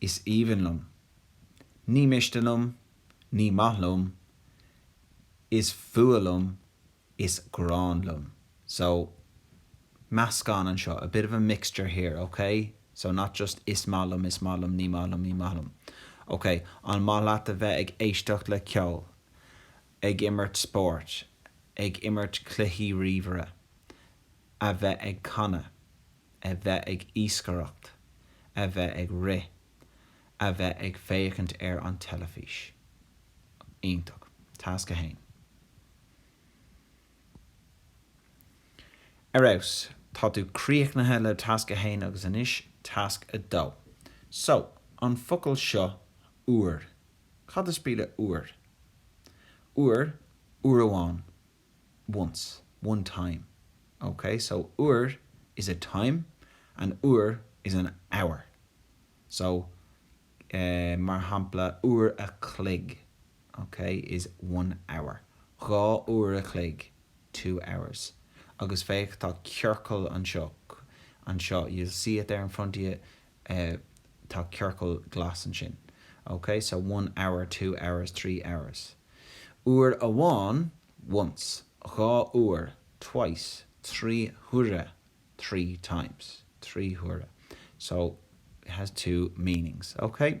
Is aoibhinn liom. Ní miste liom. Ní maith liom. Is fuath liom. Is gráin liom. So, meascán anseo, a bit of a mixture here, ok? So, not just is maith liom, is maith liom, ní maith liom, ní maith liom. Ok, an maith leat a bheith ag éisteacht le ceol, ag imirt spóirt, ag imirt cluichí ríomhaire, a bheith ag canadh, a bheith ag iascaireacht, a bheith ag rith, a bheith ag féachaint ar an teilifís. iontach. Tasc 1 Ar fheabhas! Tá tú críochnaithe le Tasc 1 agus anois Tasc 2. So, an focal seo 'uair'. Cad is brí le 'uair'? 'Uair, uair amháin. once, one time, OK so uair is a time and uair is an hour so mar shampla uair a chloig OK is one hour dhá uair a chloig two hours agus féach tá ciorcal anseo anseo you'll see it there in front of you tá ciorcal glas ansin OK so one hour, two hours, three hours. Uair amháin, once. Dhá uair, twice. Trí huaire, three times. Trí huaire, so, it has two meanings, ok?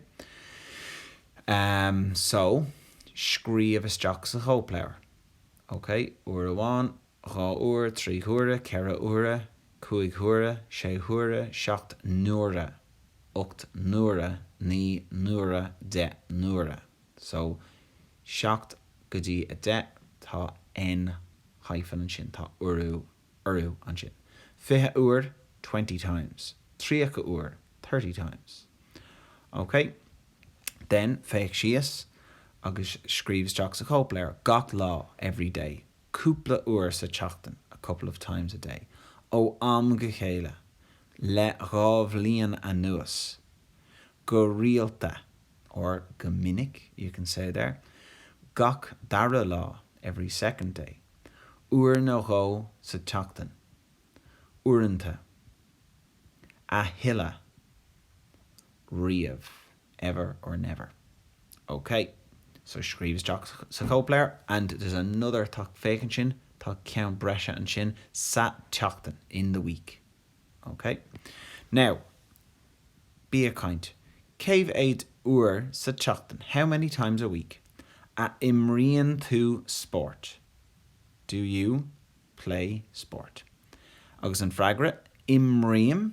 Um so, scríobh isteach sa chóipleabhar, ok? Uair amháin, dhá uair, trí huaire, ceithre huaire, cúig huaire, sé huaire, seacht n-uaire, ocht n-uaire, naoi n-uaire, deich n-uaire. So, 7 go dtí a 10, tá N hyphen ansin, tá urú ansin. Fiche uair, twenty times. Tríocha uair, thirty times. OK. Then, féach síos agus scríobh isteach sa chóipleabhar, gach lá, every day. Cúpla uair sa tseachtain, a couple of times a day. Ó am go chéile, le dhá bhliain anuas. Go rialta, or go minic, you can say there, gach dara lá, every second day, uair nó dhó sa tseachtain, uaireanta, a thuilleadh, riamh, ever or never. OK. So scríobh isteach sa chóipleabhar and there's another tá, féach ansin, tá ceann breise ansin sa tseachtain, in the week. OK now, bí ag caint. Cé mhéad uair sa tseachtain, how many times a week, a imríonn tú spórt? Do you play sport? Agus an freagra, imrím,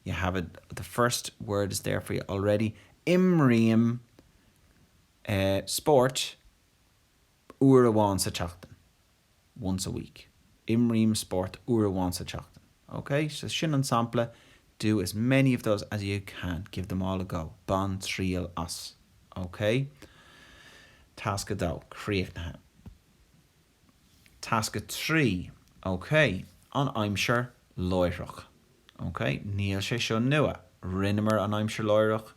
you have it, the first word is there for you already, imrím eh spórt, uair amháin sa tseachtain, once a week. Imrím spórt uair amháin sa tseachtain. Ok? So sin an sampla, do as many of those as you can, give them all a go. Bain triail as. Ok? Tasc 2, críochnaithe. Tasc 3, Ok, an aimsir láithreach. Ok, níl sé seo nua. Rinneamar an Aimsir Láithreach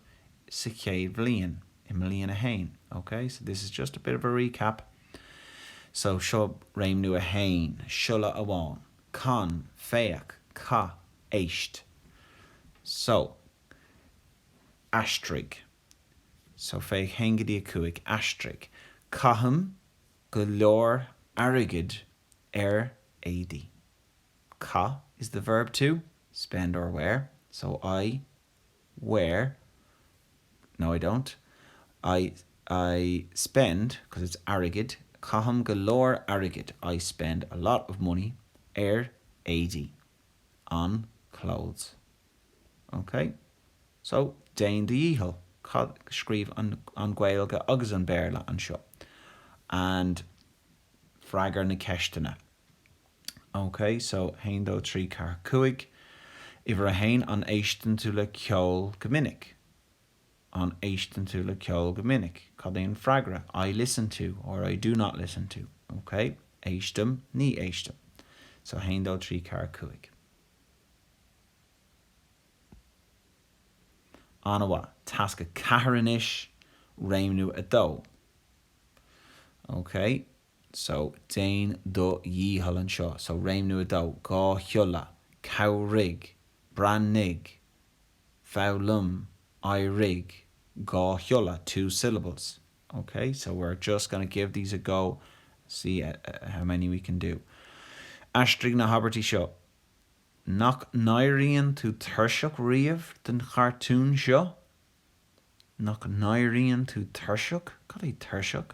sa chéad bhliain, i mbliain a haon. Ok, so this is just a bit of a recap. So seo réimniú a haon, siolla amháin, can, féach, caith, éist. So, aistrigh. So féach haon go dtí a cúig, aistrigh. Caithim go leor airgid ar éadaí. Caith is the verb to spend or wear, so I wear no I don't I I spend because it's airgid caithim go leor airgid I spend a lot of money ar éadaí on clothes ok so déan do dhícheall cad scríobh an Ghaeilge agus an Béarla anseo and freagair na ceisteanna. OK, so haon dó trí ceathair cúig. Uimhir a haon, an éisteann tú le ceol go minic? An éisteann tú le ceol go minic? Cad é an freagra? I listen to or I do not listen to. OK? Éistim, Ní éistim. So haon dó trí ceathair cúig. An-mhaith. Tasc a ceathair anois, réimniú a dó. OK. so, déan do dhícheall anseo, so, réimniú a dó, dhá shiolla, cabhraigh, breathnaigh, foghlaim, éirigh, dhá shiolla, two syllables, ok, so we're just going to give these a go and see how many we can do Aistrigh na habairtí seo Nach n-éiríonn tú tuirseach riamh den chartún seo? Nach n-éiríonn tú tuirseach? Cad é tuirseach?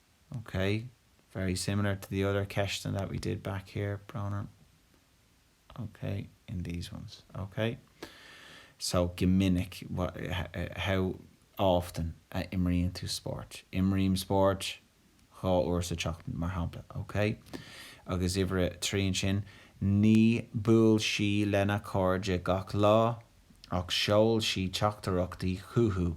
Ok, very similar to the other ceisteanna that we did back here, Brónagh. Ok, in these ones. Ok. So, go minic, how often a imríonn tú spórt? Imrím spórt dhá uair sa tseachtain, mar shampla. Ok. Agus uimhir a trí ansin, Ní bhuail sí lena cairde gach lá, ach sheol sí teachtaireachtaí chucu.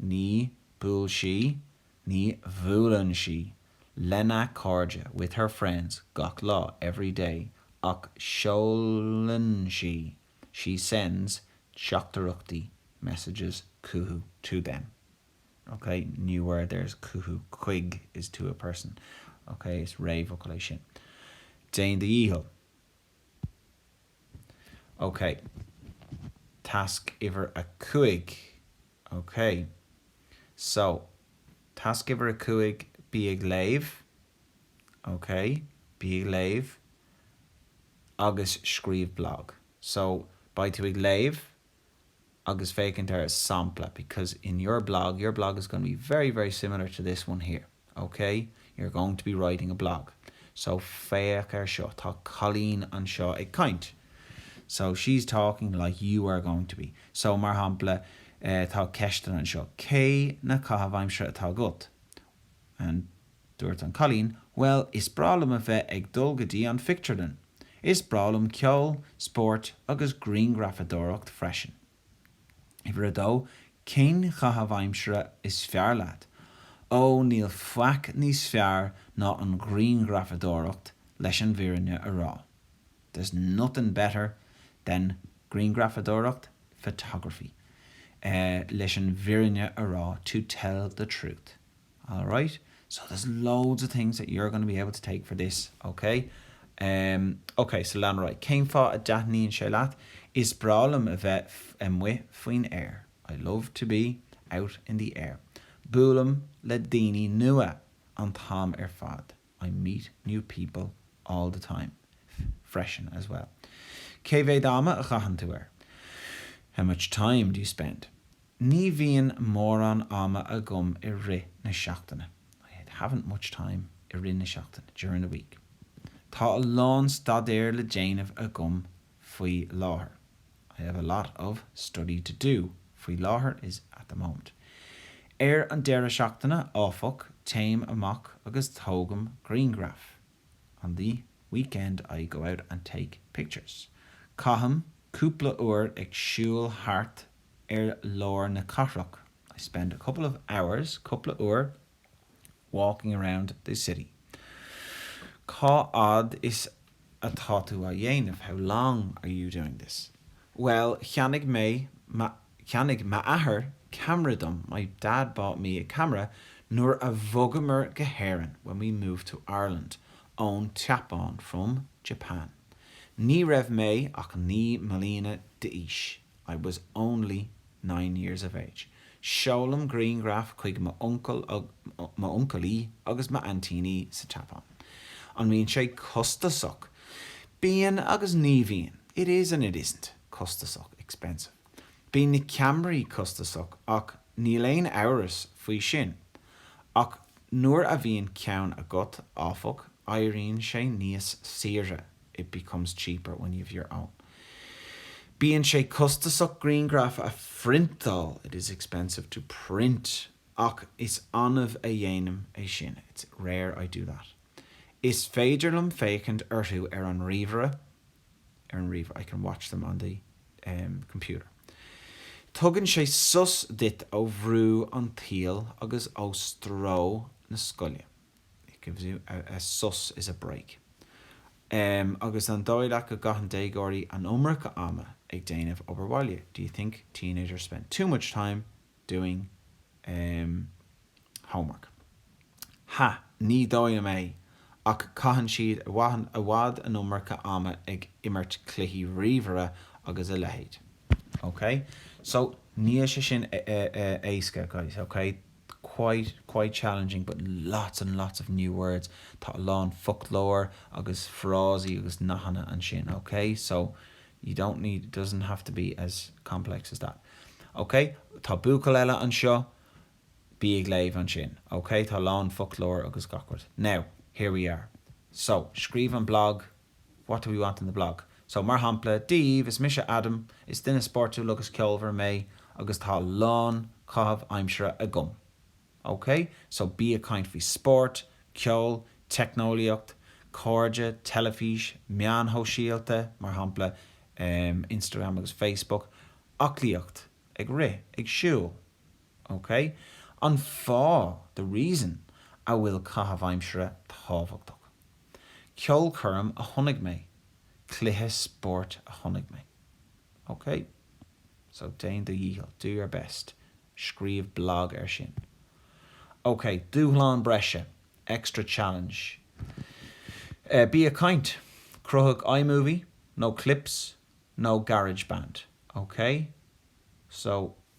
Ní bhuail sí. Ní bhuaileann sí lena cairde, with her friends, gach lá, every day, ach seolann sí, she sends, teachtaireachtaí, messages, chucu, to them. Ok, new word there is chucu, chuig is to a person. Ok, is réamhfhocal é sin. Déan do dhícheall. OK. Tasc uimhir a cúig. OK. So, tasc uimhir a cúig, bí ag léamh. OK. Bí ag léamh agus scríobh blag. So, beidh tú ag léamh agus féachaint ar a sampla because in your blog, your blog is going to be very, very similar to this one here, ok? You're going to be writing a blog. So féach air seo, tá cailín anseo ag caint. So she's talking like you are going to be. So mar shampla, eh, tá ceisteanna anseo. Cé na caithimh aimsire atá agat? And. Dúirt an cailín, Bhuel, is breá liom a bheith ag dul go dtí an phictiúrlann. Is breá liom ceol, spóirt agus grianghrafadóireacht freisin. Uimhir a dó, cén caitheamh aimsire is fearr leat? Ó, níl faic níos fearr ná an grianghrafadóireacht leis an bhfírinne a rá. There's nothing better than grianghrafadóireacht, photography, eh, leis an bhfírinne a rá, to tell the truth. All right, so there's loads of things that you're going to be able to take for this, OK? Em, OK, so lean ar aghaidh. Cén fáth a dtaitníonn sé leat? Is breá liom a bheith amuigh faoin aer. I love to be out in the air. Buailim le daoine nua an t-am ar fad. I meet new people all the time freisin as well cé mhéad ama a chaitheann tú air? How much time do you spend? ní bhíonn mórán ama agam i rith na seachtaine I haven't much time i rith na seachtaine during the week tá a lán staidéir le déanamh agam faoi láthair. I have a lot of study to do faoi láthair is at the moment. Ar an deireadh seachtaine, áfach, téim amach agus tógaim grianghraif. On the weekend I go out and take pictures. Caithim cúpla uair ag siúl thart ar lár na cathrach. I spend a couple of hours cúpla uair walking around the city Cá fhad is atá tú á dhéanamh? How long are you doing this? Bhuel, cheannaigh mé, cheannaigh m'athair ceamara dom My dad bought me a camera nuair a bhogamar go hÉirinn when we moved to Ireland ón tSeapáin from Japan Ní raibh mé ach naoi mbliana d'aois. I was only nine years of age, Seolaim grianghraf chuig m'uncailí agus m'aintíní sa tSeapáin. An mbíonn sé costasach? Bíonn agus ní bhíonn, It is and it isn't, Costasach, expensive, Bíonn na ceamaraí costasach ach níl aon amhras faoi sin. Ach nuair a bhíonn ceann agat, áfach, éiríonn sé níos saoire. it becomes cheaper when you have your own bíonn sé costasach grianghraif a phriontáil it is expensive to print ach is annamh a dhéanaim é sin it's rare I do that is féidir liom féachaint orthu ar an ríomhaire ar an ríomhaire I can watch them on the computer tugann sé sos duit ó bhrú an tsaoil agus ó stró na scoile. it gives you a, sos is a break agus an dóigh leat go gcaitheann déagóirí an iomarca ama ag déanamh obair bhaile do you think teenagers spend too much time doing homework ha ní dóigh liom é ach caitheann siad i bhfad an iomarca ama ag imirt cluichí ríomhaire agus a leithéid ok so níl sé sin éasca guys ok. quite, quite challenging but lots and lots of new words tá a lán foclóir agus frásaí agus nathanna ansin ok so you don't need it doesn't have to be as complex as that ok tá buachaill eile anseo bí ag léamh ansin ok tá a lán foclóir agus gach rud now here we are so scríobh an blog What do we want in the blog? So, mar shampla, Dia daoibh, is mise Adam, is duine spórtúil agus ceolmhar mé agus tá a lán caitheamh aimsire agam. OK? So, bí ag caint faoi spórt, ceol, teicneolaíocht, cairde, teilifís, meáin shóisialta, mar shampla, em, Instagram agus Facebook, aclaíocht, ag rith, ag siúl. OK? An fáth, the reason, a bhfuil caitheamh aimsire tábhachtach. Ceolchoirm a chonaic mé, cluiche spóirt a chonaic mé. Ok? So, déan do dhícheall, do your best. Scríobh blog ar sin. Ok, dúshlán breise, extra challenge. Eh, bí ag caint. Cruthaigh iMovie, nó Clips, nó GarageBand. Ok? So.